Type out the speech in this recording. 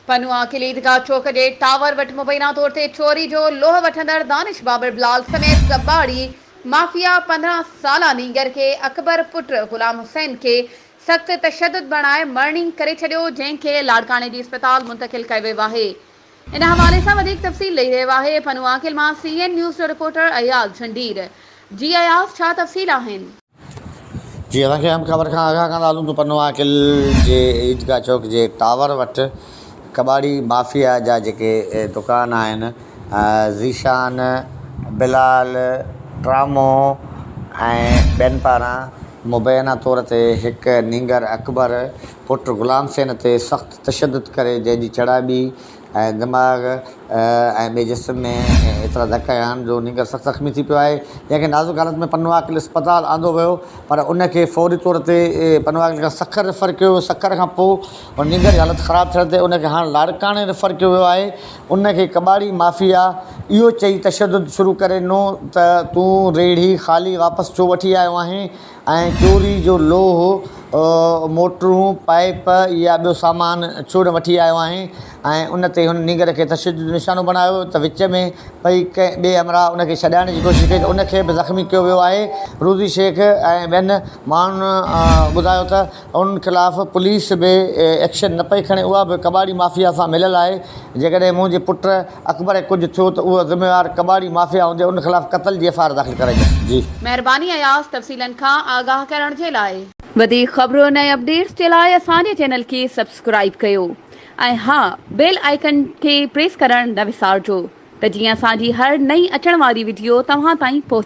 پنهونء قلعي عيدگاهه چوڪ جي ٽاور وٽ مبينا طور تي چوري جو لوهه وٺندڙ دانش بابر بلال سميت ڪٻاڙي مافيا پندرهن سالا نينگر کي اڪبر پٽ غلام حسين کي سخت تشدد بڻائي مڙني ڪري ڇڏيو جنهن کي لاڙڪاڻي جي اسپتال منتقل ڪيو ويو آهي ان حوالي سان وڌيڪ تفصيل ڏئي رهيو آهي پنهونء قلعي مان سي اين نيوز جو رپورٽر اياز جھنڊير جي اياز ڇا تفصيل آهن. جي اسان کي هم خبر کان آگاهه ڪندا هلون ته پنو عاقل جي عيدگاهه چوڪ جي ٽاور وٽ ڪٻاڙي مافيا جا جيڪي دڪان آهن ذيشان، بلال، ٽرامو ۽ ٻين پاران مبينا طور تي هڪ نينگر اڪبر پٽ غلام حسين تي سخت تشدد ڪري جنهن جي چڙهائي ٻي ۽ دماغ ۽ ٻئي جسم ۾ ايترا ڌڪ هنيا آهن جو نينگر سخت زخمي ٿي پيو آهي جنهن کي نازڪ حالت ۾ پنهون عاقل اسپتال آندو ويو پر ان کي فوري طور تي پنهون عاقل کان سکر ريفر ڪيو ويو سکر کان پوء هن نينگر جي حالت خراب ٿيڻ تي ان کي هاڻ لاڙڪاڻي ريفر ڪيو ويو آهي ان کي ڪٻاڙي مافيا اهو چئي تشدد شروع ڪري ڏنو ته تون ريڙهي خالي واپس ڇو وٺي آيو آهين ۽ چوري جو لوهه، موٽرون، پائيپ يا ٻيو سامان ڇوڙڻ وٺي آيو آهين ۽ ان تي هن نينگر کي تشدد جو نشانو بڻايو ته وچ ۾ پئي ڪنهن ٻئي همراهه ان کي ڇڏائڻ جي ڪوشش ڪئي ته ان کي به زخمي ڪيو ويو آهي. روضي شيخ ۽ ٻين ماڻهن ٻڌايو ته انهن خلاف پوليس به ايڪشن نه پئي کڻي اها به ڪٻاڙي مافيا سان مليل آهي جيڪڏهن منهنجي پٽ اڪبر کي ڪجهه ٿيو ته اهو ذميوار ڪٻاڙي مافيا هوندي ان خلاف قتل جي ايف آء آر داخل ڪرائي وڃي. مهرباني اياز تفصيلن کان آگاهه ڪرڻ جي لاء. وڌيڪ خبرن ۽ اپڊيٽس جي لاء اسان جي چينل کي سبسڪرائيب ڪيو ۽ ها بيل آئيڪن کي پريس ڪرڻ نه وسارجو ته جيئن اسان جي هر نئين اچڻ واري وڊيو توهان تائين پهچي.